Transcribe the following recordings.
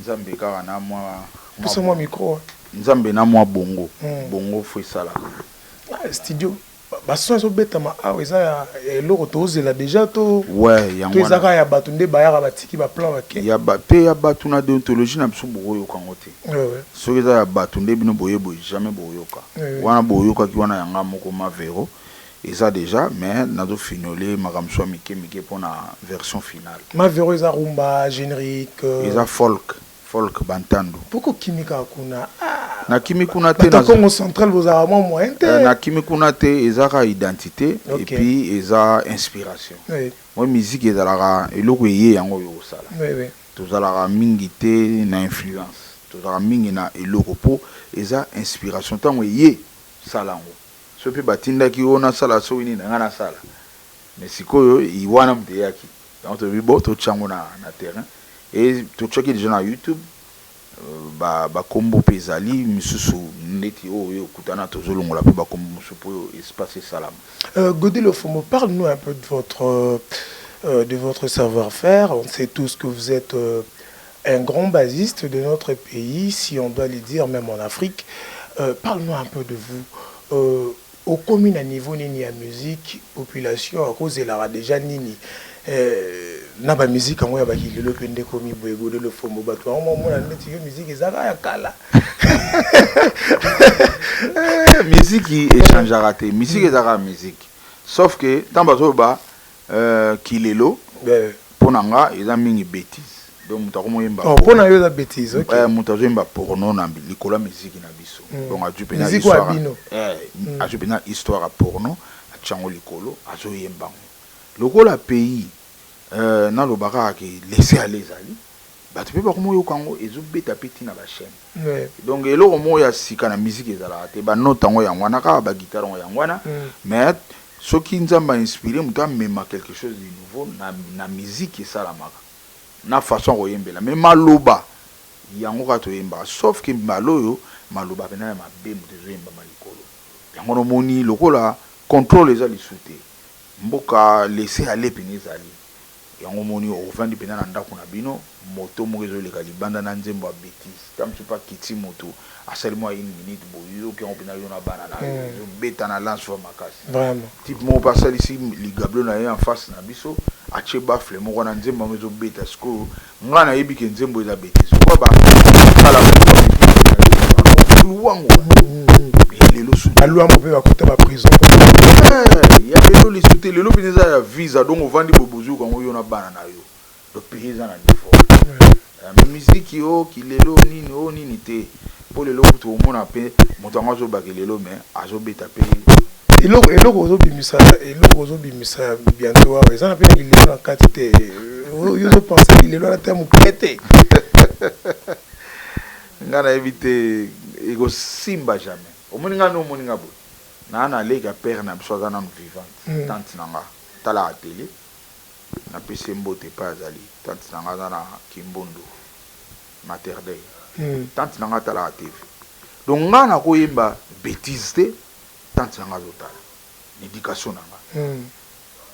Nzambe kaka n'a mwa. Nzambe n'a mwa bongo bongo faut esalaka. Studio ba son ezo betama awa eza ya eloko to zela dejà to to eza kaka ya batu nde bayaka ba tiki ba plan ba ke. Te ya batu n'a deontologie n'a biso boko yoka yango te soki eza ya batu nde bino boye boye jamais boko yoka wana bo yokaki wana ya nga moko ma Vero Eza dejà mais nazo finiole makambo misusu ya mike mike pona version final. Ma vero eza rumba generique. Eza folk folk bantandu. Pourquoi okimi kaka kuna ah. Na kimi kuna te. Bato ya Kongo central bozalaka mwa moyen te. Na kimi kuna te eza kaka identite et puis eza inspiration. Moi musique ezalaka eloko eye yango oyo osala. Tozalaka mingi te na influence tozalaka mingi na eloko po eza inspiration tango eye sala yango. Soki batindaki yo nasala soki nini nanga nasala mais sikoyo wana mutu eyaki yango tolobi bon totia yango na terrain et totiaki dejà na YouTube ba kombo pe ezali misusu ndeti oyo oyo okutana tozolongola pe ba kombo mususu po espace esalama. Gody Lofombo parle nous un peu de votre de votre savoir faire on sait tous que vous etes Un grand basiste de notre pays si on doit le dire meme en Afrique parle nous un peu de vous okomi na niveau nini ya musique population ako zelaka dejà nini na ba musique yango ya ba kilelo pe nde ekomi boye gode lofombo batu yango ba mona ndeti yo musique eza kaka ya kala musique e changeaka te musique eza kaka musique sauf que tango bazo loba Euh kilelo po na nga eza mingi betise donc mutu akomi oyemba porno. Oh po na yo eza betise ok. Eh mutu azo yemba porno na likolo ya miziki na biso donc azwi penza histoire. Miziki oyo ya bino. Eh azwi penza histoire ya porno atie yango likolo azo yemba yango lokola pays euh naloba kaka ke laisser aller ezali. Batu pe bakomi oyoka yango ezo beta pe ti na ba chaine donc eloko moko ya sika na musique ezalaka te ba note yango yango wana kaka ba guitare yango yango wana mais soki nzambe a inspire mutu amema quelque chose de nouveau na musique esalamaka na façon ya koyembela mais maloba yango kaka toyembaka sauf que mbala oyo maloba pena ya mabe mutu ezo yembama likolo yango wana omoni lokola controle eza lisu te mboka laisser aller pena ezali Yango omoni ovandi penza na ndaku na bino moto moko ezo leka libanda na nzembo ya betise ta mosusu pe akiti mutu asali mua une minute boye yo oyoki yango penza yo na bana na yo ezo beta na lance oyo ya makasi type moko pe asalisi ligablo na ye en face na biso atie baffle moko wana nzembo yango ezo beta sikoyo Nga na yebi ke nzembo eza betise lokola ba kala ba luwango ya lelo su ba luwango pe ba kota ba prison eh, ya lelo lisu te lelo bino eza ya visa donc ovandi boye bozuki yango yo na bana na yo donc pays eza na niveau eh, mais miziki o oh, kilelo nini o oh, nini te Po lelo kutu omona pe mutu yango azo bakeli lelo mais azo beta pe. Eloko eloko ozo bimisa eloko ozo bimisa bientot awa eza na pe lilelo na kati te yo ozo penser lilelo wana ata mukie te nga na yebi te eko simba jamais omoni nga nde omoni nga boye na na leka pere na biso aza nanu vivante tante na nga talaka tele na pesi ye mbote epai azali tante na nga aza na kimbondo Mater dei tante na nga atalaka TV donc nga nako yemba betise te tante na nga azo tala na education na nga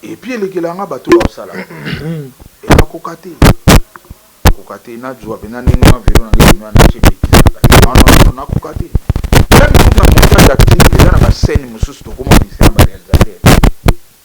et puis elekela nga batu oyo azo sala et na koka te na koka te na zua penza ndenge wana velo na nga ebimi wana na tie betise na kati non non non na koka te meme kutu na montage acting eza na ba scène mususu toko monisa na ba realisateur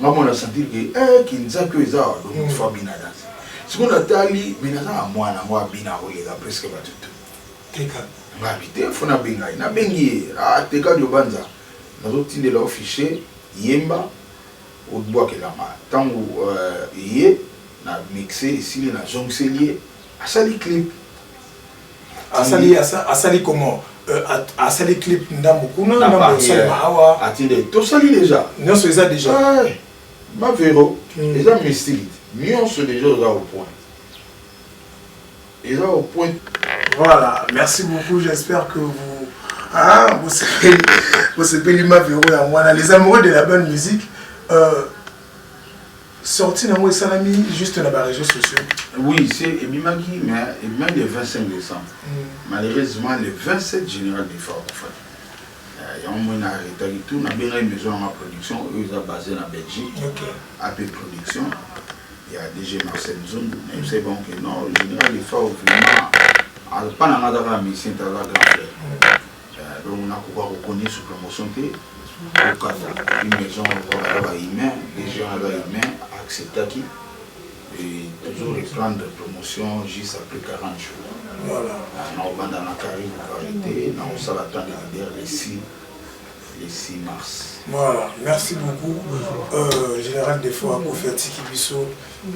Nga mwana sentir que eh kinzaki oyo eza donc il faut abina danse siko na tali mais naza na mwana ngo abina koleka presque batu tout teka nga bi te faut na benga ye na bengi ye ah teka diobanza nazo tindela yo fichier yemba obuakelanga tangu euh, eye na mixe esili na zongiseli ye asali clip asali asali comment euh, asali clip ndambo kuna ndambo osalema awa atinde tosali deja nyonso eza deja bavero hmm. eza mystique nyonso deja oza au point eza au point voilà merci beaucoup j'espère que vous ah, bosepeli mavero yango wana les amoureux de la bonne musique euh, Sortie na ngo esalami juste na ba reseaux sociaux. Oui, c'est ebimaki mais ebimaki le 25 décembre. Mm. Malheureusement le 27 général de Faro Fadi. Euh, yango moi na arrêtaki tout na bengaki maison ya ma production oyo eza basé na Belgique. Okay. AP production ya DG Marcel Nzundu. Na yebisaki bango que non, le général de Faro vraiment alpa na nga azaka musicien te aza grand frère. Mm. donc na koka ko connait sur promotion te kokata une maison baza ba humain les gens na ba humain acceptaki et toujours reprendre promotion juste après 40 jours voilà na obanda na carré ko arrêter na osala temps de leader les 6 les 6 mars voilà merci beaucoup euh, général defo akofi atiki biso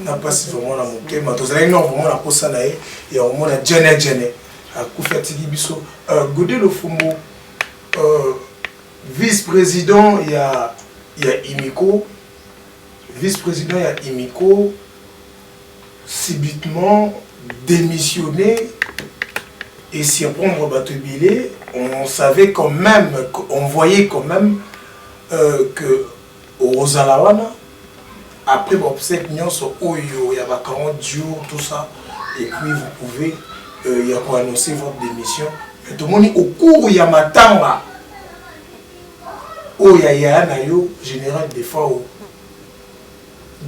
na mpasi vraiment na motema tozalaki nao vraiment na mposa na ye ya komona jene jene Akufi atiki biso euh, Gode Lofumbo euh, vice-president ya ya Imiko vice-president ya Imiko subitement démissionné et surprendre bato ebele on savait quand même on voyait quand même euh, que Okozala wana après ba obsèques nionso oyo ya ba 40 jours tout ça et puis vous pouvez ya ko annoncer votre demission mais tomoni au cours ya matanga oyo ya yaya na yo General Defao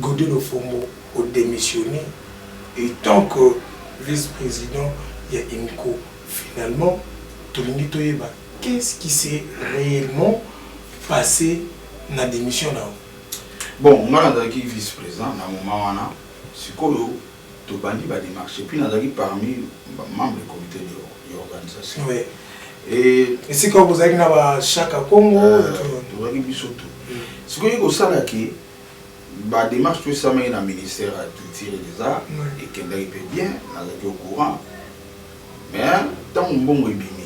Gode Lofombo o demissionner etant que vice-president ya INCO finalement tolingi toyeba Qu'est ce qui s'est reellement passe na demission na yo? Bon nga nazalaki vice president na moment wana sikoyo tobandi ba demarche epuis nazalaki parmi ba membre ya comite de organisation oui. et esika oyo bozalaki na ba shaka kongo tozalaki euh, biso tout sikoyo ekosala ke ba demarche to esamaki na ministère ya culture et des arts ekendaki mpe bien nazalaki au courant Mais tangu mbongo ebimi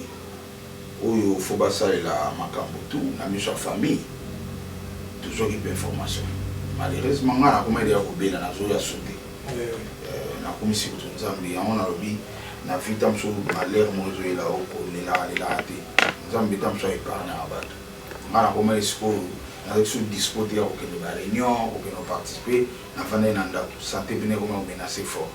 oyo faut ba salela makambu tout na miso ya famille tozwaki pe information malheureusement nga na komaki dejà kobela nazo ya sote na kumisi kutu nzambe yango na lobi na vie ta musu malheur moko ezo yela yo ko lelaka lelaka te nzambe ta musu a epargnaka batu nga na komaki sikoyo nazalaki sur dispo te ya kokende ba reunion kokende ko participer na fandaki na ndaku sante pena ekomi ko menace fort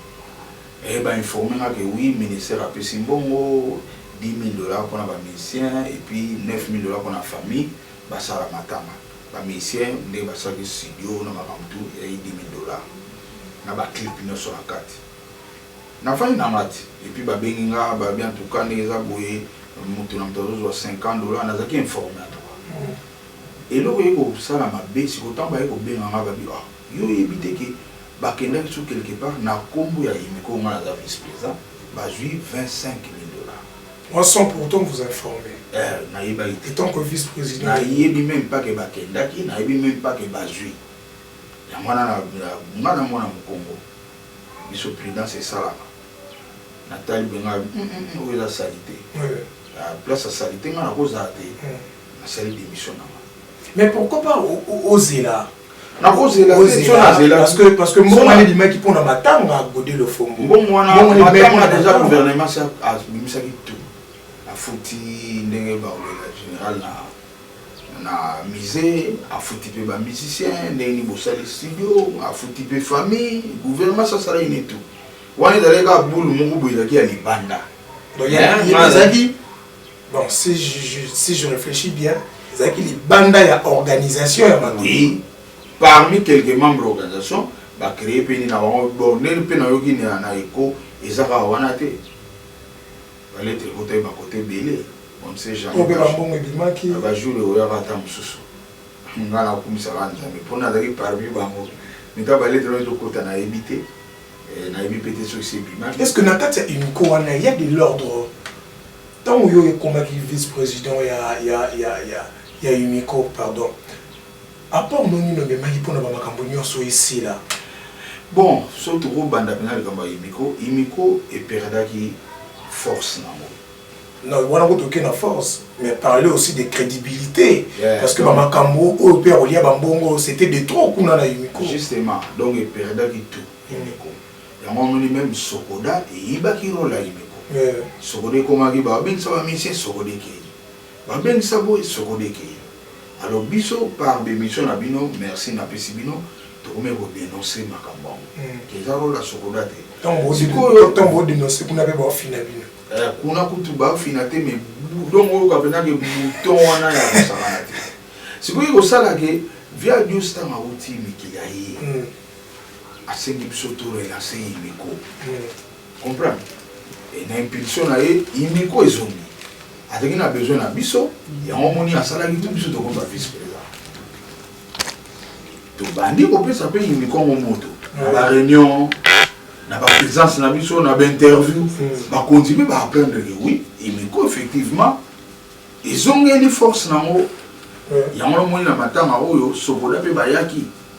Eh ba informe nga que oui ministère apesi mbongo 10000 dollars pona ba musiciens et puis 9000 dollars pona famille basala matanga ba musiciens nde basalaki studio na makambo tout ezalaki 10000 dollars na ba clip nionso na kati nafandi na nga ti et puis babengi nga balobi en tout cas ndenge eza boye mutu na mutu azozua 50 dollars nazalaki informe en tout cas eloko eye kosala mabe sikoyo tango baye kobenga nga babi ah Yo oyebi te ke bakendaki sur quelque part na kombo ya Yimiko nga naza vice president bazui 25 mille dollars. Moi sans pourtant vous informer. Eh nayebaki te. Etant que vice president. Nayebi meme pas ke bakendaki nayebi meme pas ke bazui yango wana na nga na mwana mukongo biso prudence esalama natali boye nga hum hum oyo eza salite place ya salite nga nakozala te. Nasali demission na nga. Mais pourquoi pas ozela nakozela parce que mbongo wana ebimaki mpo na matanga gode lofombo mbongo wana deja gouvernement si abimisaki tout afuti ndenge baolela général na na musée afuti mpe bamusicien ndenge nini bosali studio afuti mpe famille gouvernement sasalaki ne tout wana ezalaki kaka bulu moko boye ezalaki ya libanda ezalaki Bon, si je, je, si je réfléchis bien, ezalaki libanda ya organisation ya makambo. Oui, parmi quelques membres ya organisation, ba créer mpe nini na bango, bon, ndenge mpe nayoki na, na echo, eza kaka wana te. Ba lettres ekota ye ba côté ebele, on ne sait jamais. Mpo mpe ba mbongo ebimaki. Ba jours ekoyaka ata mosusu. Nga nakumisaka Nzambe, mpo nazalaki parmi bango. Mais kaka ba lettres wana ezokota nayebi te, eh, nayebi mpe te soki esi ebimaki. Est-ce que na kati ya UNICO wana, il y a de l'ordre? Tango yo okomaki vice president ya ya ya ya ya UNICO pardon apport no nini omemaki pona ba makambo nionso esila? Bon soki toko banda pena likambo ya UNICO, UNICO e perdaki force nango. Non wana kutu oke na force mais parler aussi de credibilite parce que ba makambo oyo pe ya kolia ba mbongo c'etait de trop kuna na UNICO. Justement donc e perdaki tout UNICO. Yango omoni meme socoda eyibaki role ya ineko socoda ekomaki ba bengisa ba musicien socoda ekeyi ba bengisa boye socoda ekeyi alors biso par b'emission na bino merci na pesi bino tokomi ko denoncer makambo yango que eza role ya socoda te sikoyo tango bo denoncer kuna pe bao fina bino kuna kutu bao fina te mais donc oyoka penza ke bouton wana ya kosakana te sikoyo ekosala ke via dios tango awuti mikili aye asengi biso to relancer Yimiko comprendre et na impulsion na ye Yimiko ezongi azalaki na besoin na biso yango omoni asalaki tout biso tokomi ba vice président tobandi kopesa mpe Yimiko yango moto na ba réunion na ba présence na biso na ba interview bakonzi mpe ba apprendre que oui Yimiko effectivement ezongeli force na yango yango omoni na matanga oyo sokoda mpe bayaki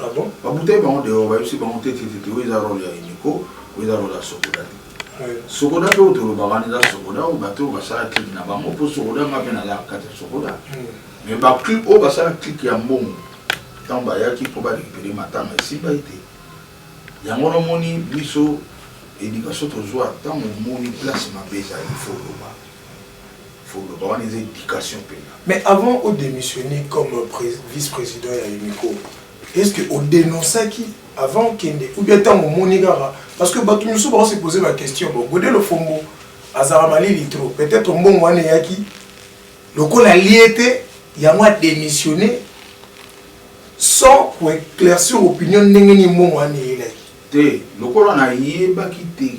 Ah bon? Ba butaki bango dehors, ba yebisi bango te te te oyo eza role ya Eniko, oyo eza role ya Sokoda te. Sokoda pe oyo tolobaka wana eza Sokoda oyo bato oyo basala clique na bango mpo Sokoda nga mpe naza na kati ya Sokoda. Mais ba clique oyo basala clique ya mbongo ntango bayaki mpo ba recuperer matanga esimbaki te. Yango wana omoni biso education tozwa ntango omoni place mabe ezali il faut oloba. faut loba wana eza education pena. Mais avant o demissionner comme vice president ya Unico est ce que o denonçaki avant okende ou bien tango omoni kaka parce que bato mosusu bako se poser ba question bon Gode Lofombo azalaka malili trop peut-être mbongo wana eyaki lokola alie te yango a demissionner sans koeclaircir opinion ndenge nini mbongo wana eyelaki te lokola nayebaki te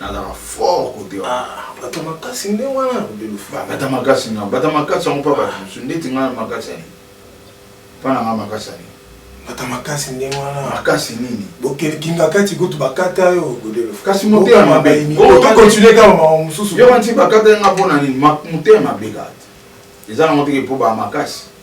nazala fort kote bata makasi nde wana bata makasi nga bata makasi yango mpa bato mosusu ndeti nga makasi ani mpa na nga makasi ani bata makasi nde wana makasi nini bokelkinga kati kutu bakata yo kasi motema mabe tokontinue kaka mawa mosusu yo wanti bakata nga mpo na nini motema mabe kati eza nango teke mpo ba makasi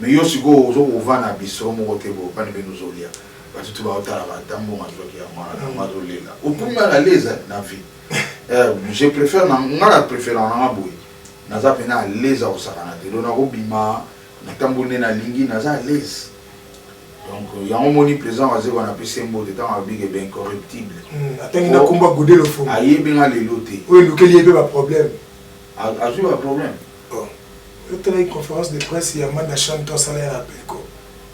Mais yo sikoyo ozo kovanda na bistro moko te boye pani bino ozo lia batu tout bao talaka ata mbongo azwaki ya mwana na yango azo lela okomi mal à l'aise na vie euh, je préfère na nga na préfère na nga boye naza pena à l'aise ya kosakana te donc nakobima natamboli nde nalingi naza à l'aise donc euh, yango moni président wazekwa na pesi mbote ntango alobi ke baincorruptible hmm, atangi nakumba gode lofongo ayebi nga lelo te oyo elukeli ye mpe baproblème azwi baproblème Bon yo talaki conference de presse ya manda chant to asala ya Belko?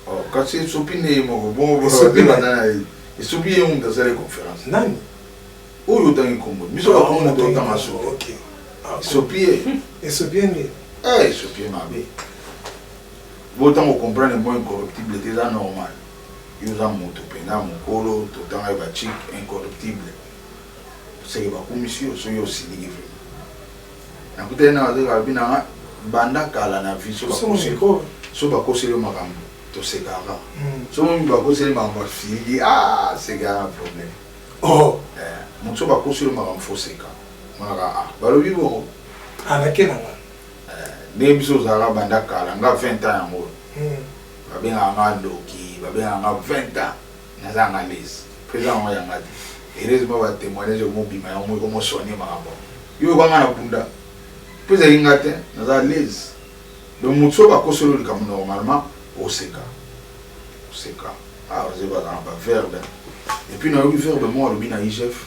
Oh kasi esopi nde ye moko bongo boza ba zela nani ayebi esopi ye mutu asali conference nani oyo otangi kombo biso ba kombo to tanga so ok esopi ye esopi ye nde eh esopi ye mabe bo tango comprendre moi incorruptible te eza normal yo oza moto mpenza mokolo totanga ye bachike incorruptible seke bakumisi yo soki osiliki vraimen Na kutani na ba zoba lobi na nga banda kala na vie soki ba koseli yo makambu to sekaka kaka soki omoni ba koseli makambu ya filligi aah seki aza na problème eh mutu soki ba koseli yo makambu faut oseka omonaka ah ba lobi bongo ah na ke na nga eh ndenge biso ozalaka banda kala nga 20 ans yango oyo ba bengaka nga ndoki ba bengaka nga 20 ans Naza yanga alaise po eza yango yanga te heureusement ba temoignage emo bima yango moko emo soigner makambo yango yo yoka nga na bunda po ezali nga te naza alaise donc mutu soki ba koseli yo likambo normalement oseka oseka ah ozo bazana ba verbe et puis nayoki verbe moko alobi na igf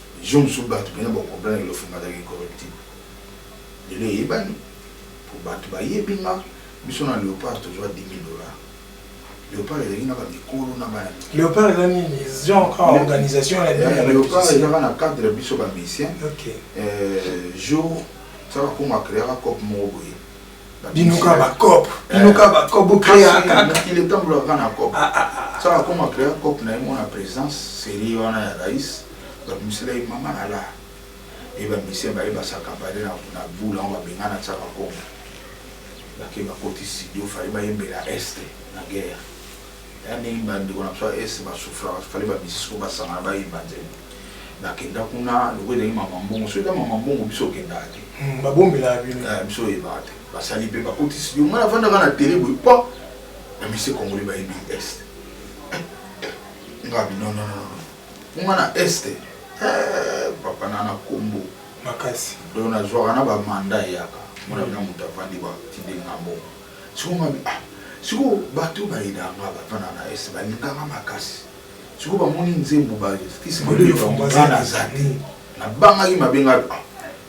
Jour mosusu batu penza bako comprendre que Lofunga azalaka incorruptible. Lelo eyebani po batu bayebi nga, biso na Leopard tozua 10.000 dollars. Leopard ezalaki na ba mikolo na ba. Leopard eza nini? Genre kaka organisation ya bino ya ba musiciens? Leopard eza kaka na cadre ya biso ba musiciens. Jour sa bakoma creaka coop moko boye. bino kaka ba cop bino kaka ba cop bo créer kaka il est temps pour la na cop ça va comme créer cop na mon présence série wana ya rais ba musela et maman na la et ba monsieur ba ba sa campagne na na boule on va benga na ça va comme la ke ba koti studio fallait ba yembela est na guerre Y'a ndenge ba ndeko na biso ya Est ba souffraka, fallait ba musiciens oyo ba sangana ba yemba nzembo. Na kenda kuna lokola ezalaki mama mbongo, soki eza mama mbongo biso to kendaka te. Hum ba bombelaka bino. Eh biso to yebaka te. Ba sali pe ba koti studio, ngai na fanda kaka na tele boye pua! Ba musiciens congolais ba yebi Est. Ngai non non non po ngai na Est eh papa na na kombo makasi. Donc na zuaka na ba mandat eyaka, omona dejà mutu avandi ba tindi nga mbongo. Sikoyo nga bi ah sikoyo batu oyo ba aidaka nga ba fanda na est ba linga nga makasi sikoyo ba moni nzembo ba kisi ba luka nga nga na za te na bangaki mabe nga bi ah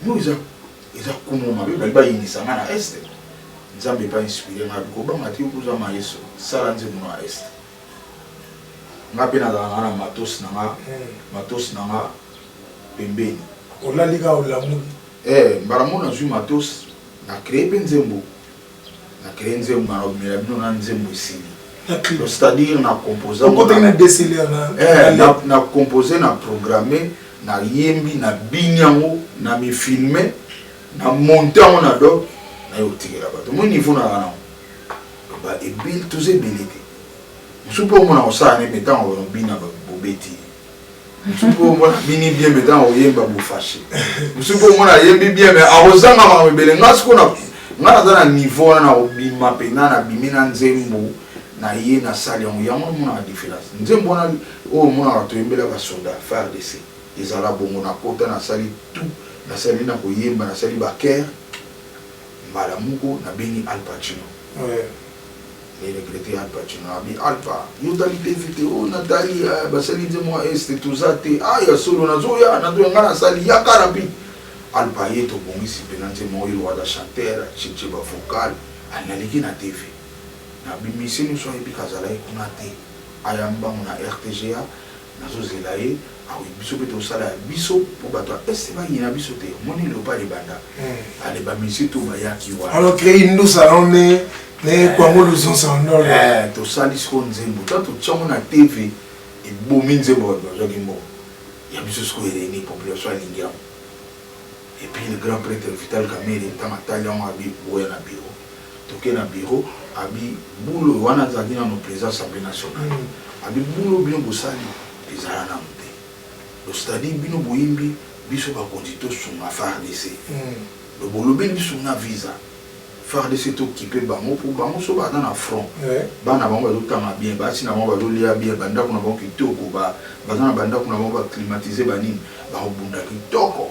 non eza eza kombo mabe ba lingi ba yinisa nga na est nzambe epa inspire nga bi ko banga te yo pe oza maestro sala nzembo na est nga pe na zalaka na matos na nga hmm. matos na nga pembeni olali ka olamuli eh mbala moko nazwi matos na cree pe nzembo Na cree nzembo na lobela bino na nzembo esili. C'est à dire na compose yango. Okotaki na DCLR na. Eh, na compose na programme na yembi na bini yango na mi filme na monte yango na do na yo tikela bato moi niveau na wana ba ebile toza ebele te mosusu mpe omona kosala ne mpe ntango bino bobeti musuku omona bini bien me ntango oyemba bofashe musuku omona ayembi bien me akozanga makambo ebele nga siko na nga naza na niveau wana na kobima mpenza nabimi na nzembo na ye na sali yango yango omonaka différence nzembo wana oyo omonaka toyembela basoda fardc ezala bongo na kota nasali tout nasali na koyemba nasali bakere mbala moko nabengi alpacino Le regrette Alpha Tshino abi Alpha yo tali te video na tali eh, basali nze mwa este toza te ah ya solo nazoya nazoya nga nasali yaka rapide Alpha ye tobongisi mpena nze mwa oyo wada chanteur cheche ba vocal analeki na TV na bimiseli nso ayebi kazalaki kuna te ayambi bango na RTGA Nazo zela ye akoki biso pe to sala ya biso po bato ya est ba yina biso te omoni leopard ebanda ba le ba monsieur to ba yaki wana alors que indusa na on ne ne kwango luzonsa ondolo eh to sali siko nzembo to to tchamo na tv ebomi nzembo ba ba zaki mbo ya biso siko ereni population alingi yango et puis le grand prêtre vital kamere tanga tali yango abi boya na biro Toke na bureau abi boulot wana azalaki nanu president assemblee nationale abi boulot bino bosali ezala nanu te donc c'est à dire bino boyembi biso bakonzi tosunga fardc donc bolobeli biso na visa fardc tokipe bango po bango soki baza na front bana na bango bazotanga bien basi na bango bazolia bien ba ndaku na bango kitoko baza na ba ndaku na bango ba climatiser ba nini bakobunda kitoko.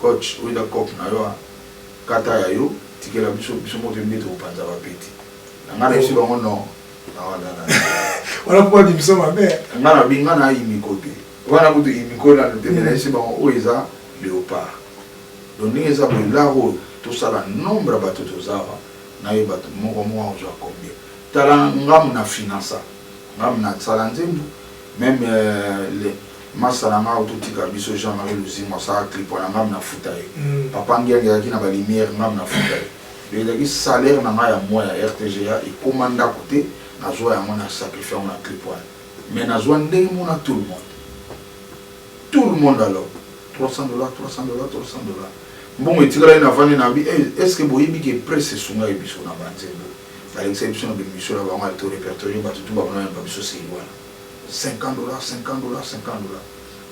Coach oyo eza coop na yo a kata ya yo tikela biso biso moko toyebi nde toko panza ba peti na nga na yebisi bango non na wanda na wana po ba bimisa mabe nga na bi nga na imiko te wana kutu imiko na te mais na yebisi bango oyo eza leopard donc ndenge eza boye lar oyo to sala nombre ya batu toza awa na yeba moko moko ako zwa combien tala nga muna financa nga muna sala nzembu meme euh, le Masta na nga auto tika biso jean marie luzingu asaka clip wana ngam na futa ye papa ngiangi azalaki na ba lumière ngam na futa ye donc ezalaki salaire na nga ya mois ya rtga ekoma ndaku te na zua yango na sacrifie yango na clip wana mais na zua ndenge moko na tout le monde tout le monde alors 300 dollars 300 dollars 300 dollars mbongo etikalaki na vandi na bi eh, est ce que boyebi ke presse esungaki biso na banzembo balekisaki biso na bemission na bango ya to repertorie bato tu bamonana ba biso seli wana 50 dollars 50 dollars 50 dollars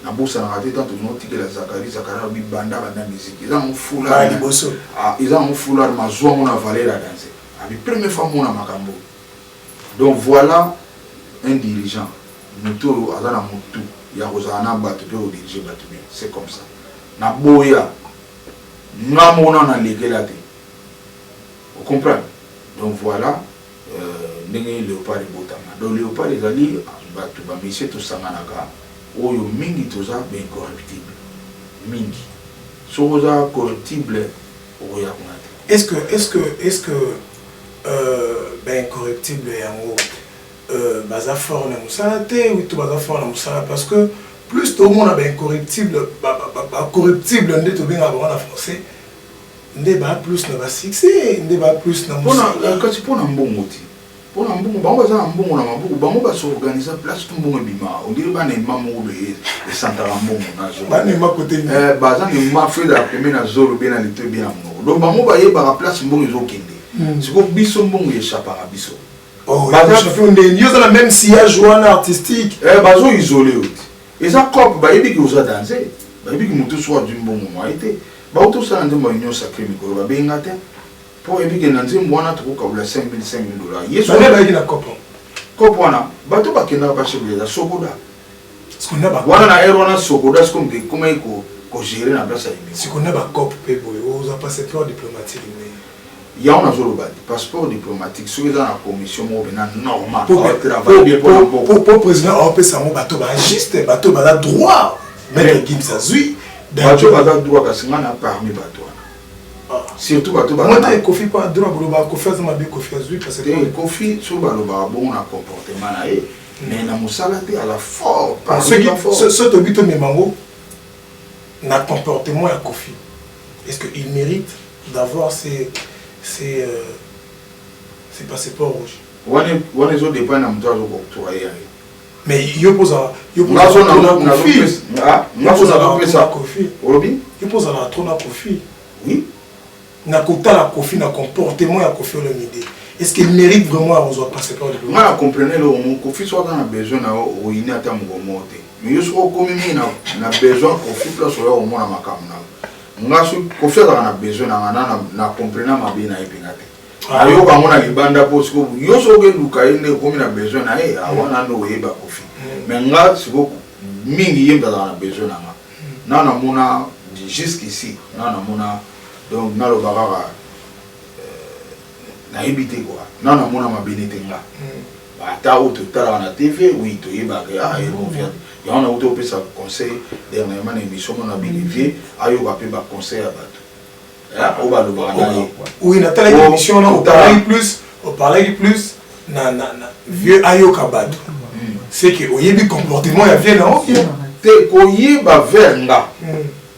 na bosanaka te tantu no tikela zakari zakari alobi banda banda musique eza yango foulard liboso ah, eza yango foulard mazua ngo na valeur ya danse abi ah, première fois mona makambo donc voilà un dirigeant moto oyo aza na motu ya kozala na bato mpe kodirige bato bien c'est comme ça na boya nga mona na lekela te ocomprendre donc voilà Ndenge nini leopard ebotama? Donc leopard ezali batu ba monsieur tosanganaka oyo mingi toza ba incorruptible mingi soki oza corruptible okoya kuna te. Est ce que est ce que est ce que ba incorruptible yango baza fort na musala te ou to baza fort na musala parce que plus tomona ba incorruptible ba corruptible nde tobengaka bango na français. nde ba plus na ba succès nde ba plus na musala kati mpo na mbongo te mpo na mbongo bango baza na mbongo na maboko bango basorganisa place tu mbongo ebima ondire bana ema moko beye esantaka mbongo eh, baza na ema feu de la peme na zolo bie na lito ebie na monoko donc bango bayebaka place mbongo ezokende hmm. sikoyo biso mbongo echapaka biso oh, yo oza na même sillage wana artistique eh, bazoisole yo te Eza coop bayebi ke oza danze bayebi ke moto soki adwi mbongo mwaye te bauti osala nzembo ya union sacre mikolo babengi nga te mpo bayebi ke na nzembo wana tokokabola 5000 5000 dollars yesu Bana bayaki na kopo. coop wana bato bakendaka bashebele eza sokoda Siko na ba wana na ere wana sokoda sikoyo moto ekomaki ko- kogere na place ya emission siko na ba cop pe boye oza passe trop diplomatique ndenge. Yango nazo loba te passeport diplomatique soki eza na commission moko pena normal po travailler bien po na mboka po président au pesa ngo bato ba juste bato ba la droit mais qui ça zui bato ba la droit kasi nga na parmi bato ah. surtout bato ba moi te kofi pas droit bolo ba kofi azama be kofi azui parce que eh, kofi so ba loba bon na comportement na ye mm. mais na musala te à la fort parce que ce ce to bito memango na comportement ya kofi Est ce que il merite d'avoir ce ce ce passeport rouge? Wana wana ezo depend na mutu azo octroyer ya ye. Mais yo kozala yo kozala trop na kofi oui na kotala kofi na comportement ya kofi olomide est ce qu'il mérite vraiment ya kozwa passeport nga na comprene eloko moko kofi soki aza na besoin na yo okoyina ata mokolo moko te mais yo soki okomi mingi na, na besoin kofi place oya komona makambo na nga soki kofi azalaka na besoin na nga na, na comprena mabe na ye mpenza te ah. ayoka yango na libanda mpo siko yo soki okeluka ye nde okomi na besoin na ye awana ah, nde oyeba kofi mm. mais nga siko mingi ye mpe azalaka na besoin na nga mm. na namona jusqu'ici na namona donc naloba kaka Nayebi te quoi nanu namona mabe nete nga ba ata oyo totalaka na TV oui toyebaka ke ah ye movia yango nawuti opesa conseil dernièrement na emission moko na bellevue ayoka pe ba conseil ya batu hein oyo balobaka na ye Oui, natalaki Po emission wana totala. oparlaki plus oparlaki plus na na na vieux ayoka bato c'est que oyebi comportement ya vieux na yo bien te koyeba vers nga Mm.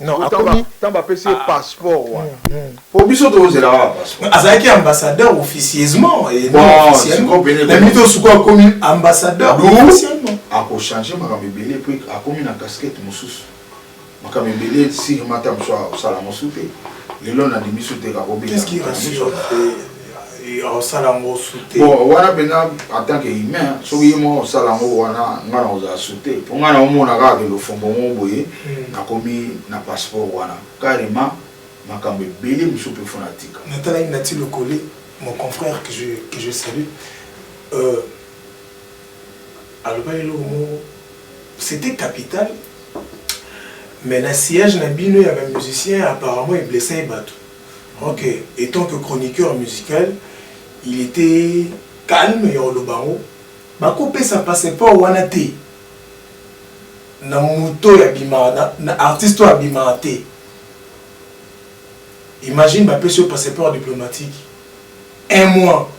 Non, akomi tant ba pesi ah. passeport wa. Hmm, hmm. Po biso to zela wa passeport. Azaki ambassadeur officieusement et bon, non officiellement. Mais mito suko akomi ambassadeur officiellement. Ako changer makambo ebele puis akomi na casquette mususu. Makambo ebele si mata mso sala mususu te. Lelo na dimisu te ka ko bela. Qu'est-ce qui rassure? osala yango sute bon wana mpenza en tant que humain soki ye moko osala yango wana ngai nakozala sute mpo ngai naomona kaka ke lofombo moko boye hmm. nakomi na passeport wana carrément makambo ebele mosusu mpe fona tika natalaki nati lokole mon confrère que je, que je salue euh, alobaki eloko moko c'était capital mais na sillage na bino ya bamusicien apparemment eblessai bato Ok etant que chroniqueur musical il etait calme ya oloba yango bako pesa passeport wana te na mutu oyo abimaka na artiste oyo abimaka te imagine ba pesi yo passeport diplomatique un mois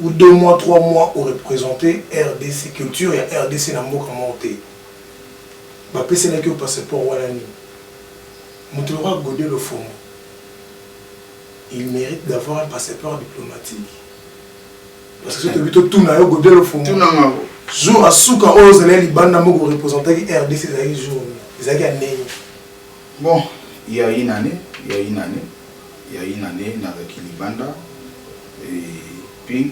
ou deux mois trois mois o representer rdc culture ya rdc na mboka moko te ba peselaki yo passeport wana nini? Mutu lokola Gode Lofombo il merite d'avoir un passeport diplomatique parce que soki tolobi totuna yo Gode Lofombo Tuna nga ko. jour ya suka oyo ozalaki libanda mboka o representaki rdc ezalaki jour nini? Ezalaki ya ndenge. Bon, il ya une annee, il ya une annee, il ya une annee nazalaki libanda et puis.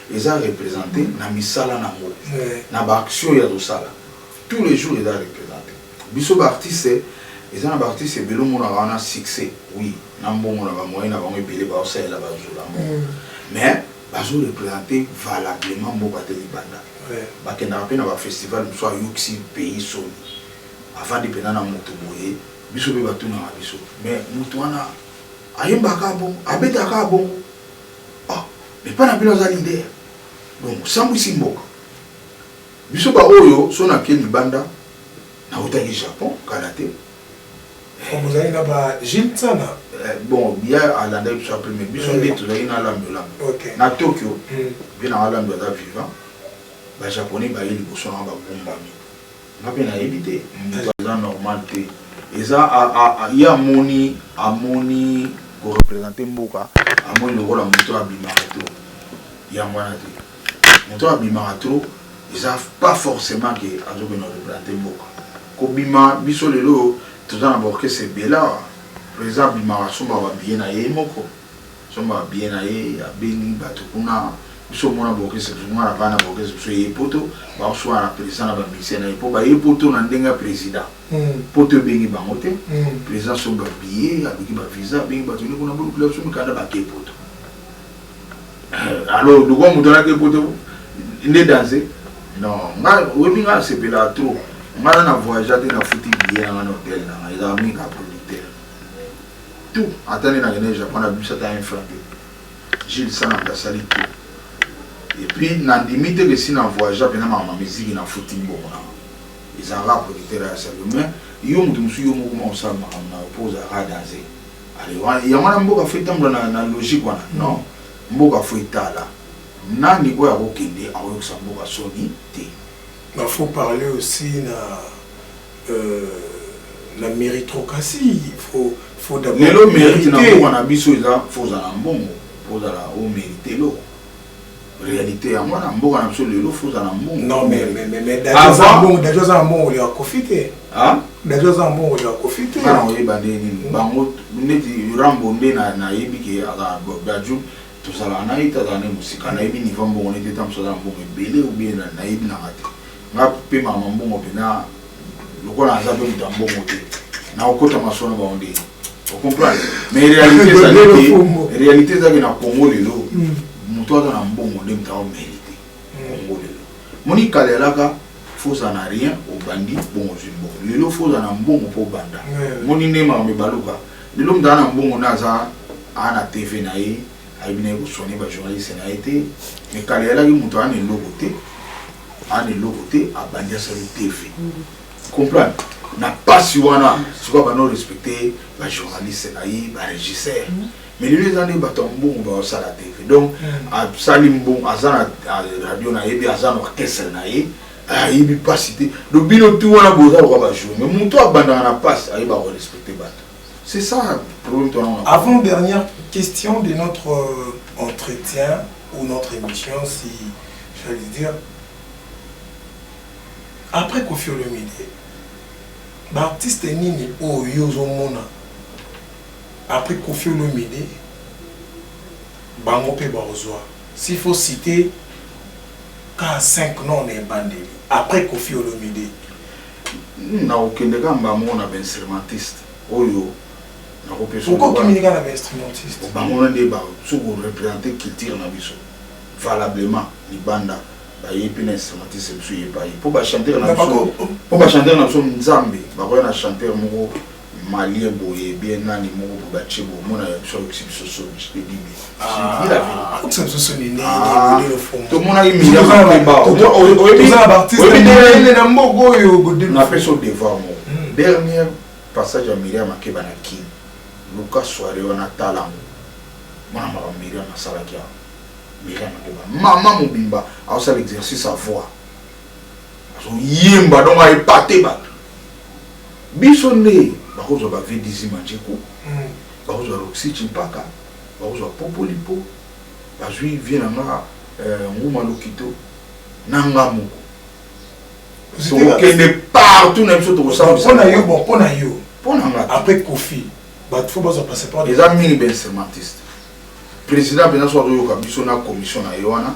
eza represente na misala na ngo na ba action ya tosala tout le jour eza represente biso ba artiste eza na ba artiste ebele omonaka wana succès oui na mbongo na ba moyen na bango ebele baosalela bazula yango mm. mais bazo represente valablement mboka te libanda bakendaka mpe na ba festival mosusu ayokisi pays soni avandi mpena na moto boye biso mpe batunaka biso mais moto wana ayembaka bongo abetaka bongo Ah mais epa na bino aza leader donc osambwisi mboka. Biso ba oyo so na ke libanda na wutaki Japon kala te eh. Bozali na ba Jules Nsana? Eh, bon ye alandaki biso apres mais biso nde tozalaki na Lando Lando na Tokyo mpe na Lando aza vivant ba japonais baye liboso na nga bagumbami Nga pe nayebi te mutu aza normal te eza ye amoni amoni ko represente mboka amoni lokola mutu oyo abimaka trop yango wana te mutu oyo abimaka trop eza pas forcement ke azo kende ko represente mboka kobima biso lelo oyo toza na ba orchestre ebele awa president abimaka asombaka ba billet naye ye moko Somba ba billets na ye abengi batu kuna biso omona bokese biso nga na vanda bokese biso eye poto bao suana na president na ba musiciens na ye po baye poto na ndenge ya president poto ebengi bango te president asombi ba billets aluki ba visa abengi batu nde kuna bolukela biso mikanda bake poto alors lokola mutu wana ake poto nde danze non nga oyebi nga nasepelaka trop nga na na voyagea te nafuti billet na nga na hotel na nga ezalaka mingi kaka tout ata nde na kende japon na bimisa ata un franc te jules sananga asali tout et puis na ndimi te que si na voyage pena ma ma musique na futi mbongo na ezalaka producteur ya salut mais yo mutu musu yo moko ma osala makambo na po ozalaka danse alors yango wana mboka fo etambola na, na logique wana non mboka fo etala nani oyo akokende akoyokisa mboka soni te il faut parler aussi na na meritrocratie faut faut d'abord lelo merite na mboka na biso eza faut ozala mbongo faut ozala o merite eloko réalité ya mwana mboka na biso lelo faut ozala mbongo non mais mais mais mais dajo aza mbongo dajo aza mbongo ya kofi te ah dajo aza mbongo ya kofi te na oyeba nde nini bango neti rambo nde na na yebi ke aka dajo tozala na ye tazala ne musika na yebi niveau mbongo neti ta musala mbongo ebele ou bien na yebi na ngate Nga pe mama mbongo pena lokola naza pe mutu ya mbongo te nakokota masolo na bango ndenge ocomprendre mais réalité ezali te réalité ezalaki na congo lelo moto hmm. aza na mbongo nde moto aomérite congo lelo moni kala elaka foza na rien obandi bongo ozwi mbongo lelo foza na mbongo mpo obanda moni nde makambo ebaluka lelo moto aza na mbongo nde aza aa na tv na ye Ayebi naye ko soigner ba journaliste naye te mais kala eyalaki mutu aana eloko te aana eloko te abandi asali TV comprendre na pasi wana sikoyo abandi o respecter ba journaliste na ye ba regisseur mais lelo eza nde bato ya mbongo baosala TV donc asali mbongo aza na radio na ye bi aza na orchestre na ye ayebi pasi te donc bino tout wana boza lokola ba jour mais mutu abandaka na pasi ayeba ko respecter bato C'est ça le problème toi on a. Avant dernière question de notre euh, entretien ou notre émission si je vais dire après Koffi Olomide baartiste nini oyo yo ozomona après Koffi Olomide bango mpe bakozwa s'il faut citer ka 5 noms na ebandeli après Koffi Olomide Nakokende kaka mbala moko na ba instrumentistes oyo nakopesa yo. Pourquoi okimi kaka na ba instrumentistes? Bango wana nde ba soki ko representer culture na biso valablement libanda baye pe na instrumentistes na biso epayi po ba chanteurs na biso po ba chanteurs na biso nzambe bakoya na chanteur moko Malien boye bien nani moko boye batie boye omona ya biso ayokisi biso soni je te dis bien je dis la verite ayokisa biso soni nini bolelo fongo tomonaki Miriam Makeba oyebi nde na mboka oyo napesi o devoir moko hmm. dernière passage ya Miriam Makeba na Kin luka soirée wana tala yango mwana makambo Miriam asalaki yango Miriam Makeba mama mobimba aosala exercice à voix azoyemba donc aepate bato biso nde bakozwa ba vdc manjeku hmm. bakozwa roxy chimpaka bakozwa popolipo bazwi vie na nga euh, nguma lokito na nga moko tokokende partout na biso tokosalampona yo bon mpo na yo mpo na nga après kofi bato fo bazwa passeport eza mingi bensemantiste président mpenza so azoyoka biso na commission na ye wana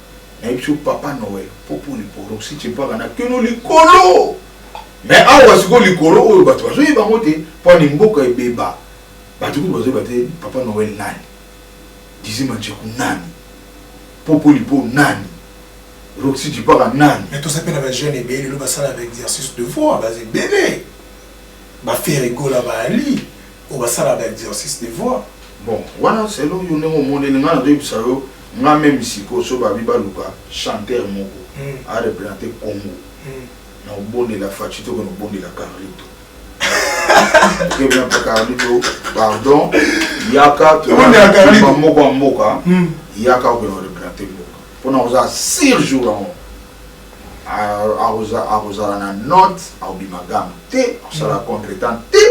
nayebisi yo papa noel popo liporo si chempaka na kino likolo me awa sikoyo likolo oyo bato bazoyeba yango te mpo ani mboka ebeba bato kutu bazoyeba te papa noel nani dizima ncheku nani popo lipo nani roxy chipaka nani mais toza mpe na bajeune ebele lelo basala ba exercice de voix baza ebele bafere gola baali Oyo basala ba exercice de voix. Bon wana selon yo ndenge omoneli nga nazo yebisa yo nga meme sikoyo soki babi baluka chanteur moko a representer congo nako bondela fatshi te kona bondela carlito okebi na pe carlito pardon yaka tobondela carlito moko ya mboka yaka okende ko representer mboka pona oza sur jour yango akozala na note akobima game te akosala contre temps te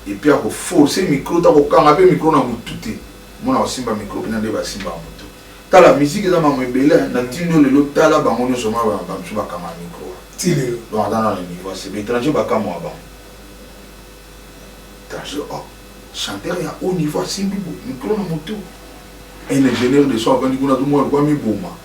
epuis ako force micro te ako kanga pe micro na mutu te omona ko simba micro pena nde ba simbaka mutu tala musique eza makambo ebele hein na tindi oyo lelo tala bango nioso omona ba mususu ba kangaka micro ti lelo donc aza nanu na niveau ya se ba etranger ba kamua bango etranger oh chanteur ya haut niveau asimbi micro na mutu un ingenieur de son avandi kuna azo mona lokola ami boma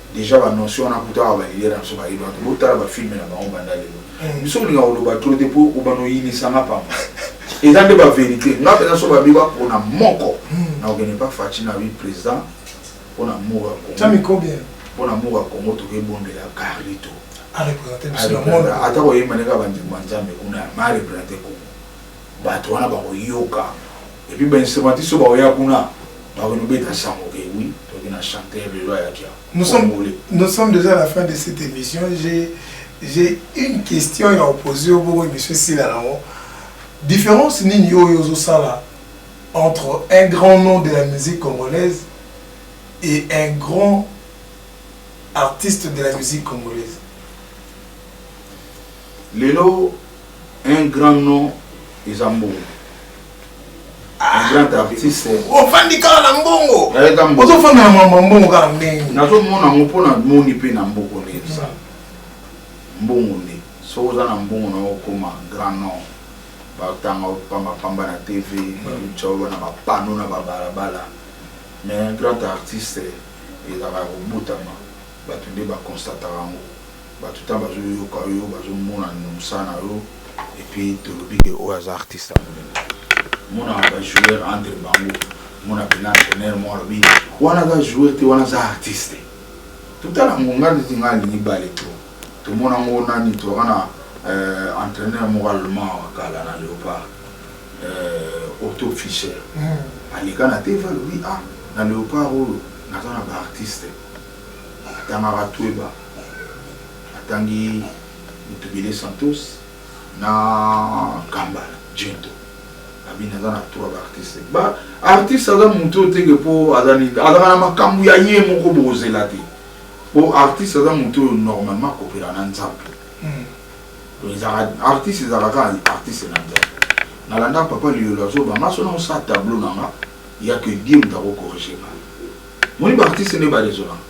Dejà ba notion wana kutu awa ba leader na biso ba yeba te. Bo tala ba films na bango banda lelo. Biso ko linga ko loba trop te po ko banda ko yinisa nga pamba. Eza nde ba verite. Nga penza soki ba beba pona moko nako kende epa Fatshi na bi president pona amour ya Congo. Ca micro bien. Pona amour ya Congo to ke bondela Carlyto. A representer biso na monde. Ata ko yemba nde kaka ba nzembo ya Nzambe kuna mais a representer Congo. Batu wana bako yoka et puis ba instrumentistes oyo bako ya kuna bako no beta sango ke oui toke na chanteur lelo ayaki awa. Nous sommes nous sommes dejà à la fin de cette emission j'ai j'ai une question ya opposer yo bongo emission esila nango difference nini oyo ozo sala entre un grand nom de la musique congolaise et un grand artiste de la musique congolaise. Lelo un grand nom eza mbongo. Un grand artiste. Ofandi kaka na mbongo. Nayeka mbongo. Ozo fanda na mama mbongo kaka mbingi. Nazo mona ngo pona moni pe na mboko ne eza. Mbongo ne. Soki oza na mbongo na okoma grand nom. Ba tanga pamba pamba na TV, ba mchawa na ba panneaux na ba bala bala. Mais un grand artiste ezaka kobotama. Batu nde ba constataka ngo. Batu ta bazo yoka yo bazo mona nino musala na yo et puis tolobi ke oyo aza artiste ya munene mona ba joueur entre bango mona bina entraîneur mo alobi wana aza joueur te wana aza artiste totala ngo nga neti nga alingi bale to tomona ngo nani toka na euh, entraîneur moko allemand wa kala na leopard euh, otto fischer hmm. aleka na tv alobi ah na leopard oyo naza na ba artiste atangaka tweba atangi Mutubile Santos na Kambala Djento abini aza na tour ba artiste ba artiste aza mutu oyo teke po aza nini azalaka na makambu ya ye moko bokozela te po artiste aza mutu oyo normalement akopela na nzambe donc ezalaka artiste ezalaka kaka artiste na nzambe nalanda papa liyolo azoba nga so na osala tableau na nga ya que dieu mutu akokorige nga moni ba artiste nde ba raisonnaka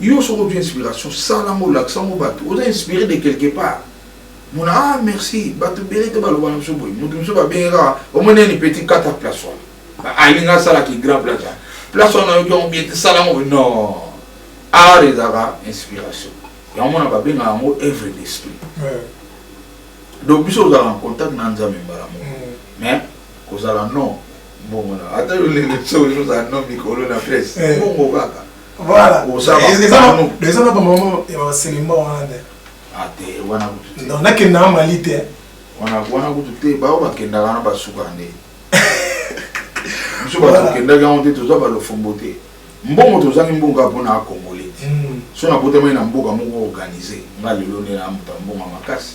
Yo soki ozwi inspiration sala yango olakisa yango batu oza inspire de quelque part mona ah merci batu ebele te baloba na biso boye mutu mosusu babenge kaka omoni eni petit kata place wana alinga asala ki grand place wana place wana oyoki yango bien te sala yango non art ezalaka inspiration yango mona babenga yango œuvre d'esprit donc biso ozalaka en contact na nzambe mbala moko mm. mais kozala non mbongo na ata yo lelo biso ozala non mikolo na place eh. mbongo kaka Voilà. Oza ba- Eza na- pano. eza na bamama ya baselemba wana te Ah, te, wana kutu te. donc nakenda na mali te Wana- wana kutu te bao bakendaka wana basuka nde biso bato Voilà. tokendaki yango te toza balofombo te mbongo tozangi mbongo kaka mpona akongole Mm. so nabotamaki na mboka moko organise nga lelo nde na moto ya mbongo ya makasi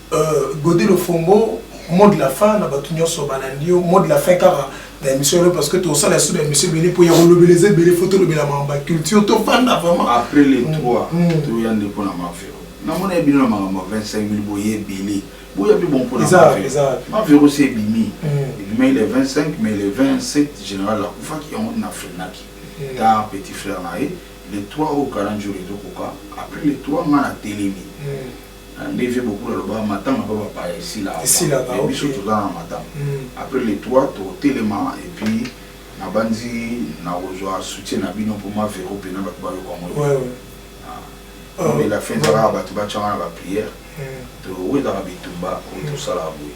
Gode Lofombo mot de la fin na batu nionso balandi yo mot de la fin kaka na emission lelo parce que tosala lisusu ba emission ebele mpo ya kolobela eza ebele fo tolobela makambo ba culture tofanda vraiment après le 3 mm, mm. toya nde mpo na mavero namona ye bino na makambo ya 25 mil boye ebele boya mpe bon mpo na mavero mavero se ebimi mm. ebimaki le 25 mais le 27 général akufaki yango na frenaki ta petit frère na ye le 3 oyo kalanjolo ezokoka après le 3 nga na telemi Na nde vieux Bokul alobaka matanga po ba paya esila avant Esilaka, mais biso ok. toza na matanga Hum. après le 3 toko telema et puis na banzi nako zua soutien na bino po ma Vero pena batu ba yoka ngo Ouais, ebele. ouais. Ah, Lobi la fin eza kaka batu ba tia nga na ba prière Hum. to wetaka bitumba oyo to salaka boye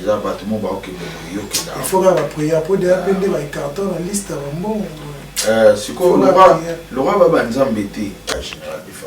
eza batu mo ba okende boye yo kenda Il faut kaka ba prière po deja pe nde ba carton na liste ya ba mbongo. Euh, sikoyo Faut la loka prière. loka ba ba nzambe te ya general bifa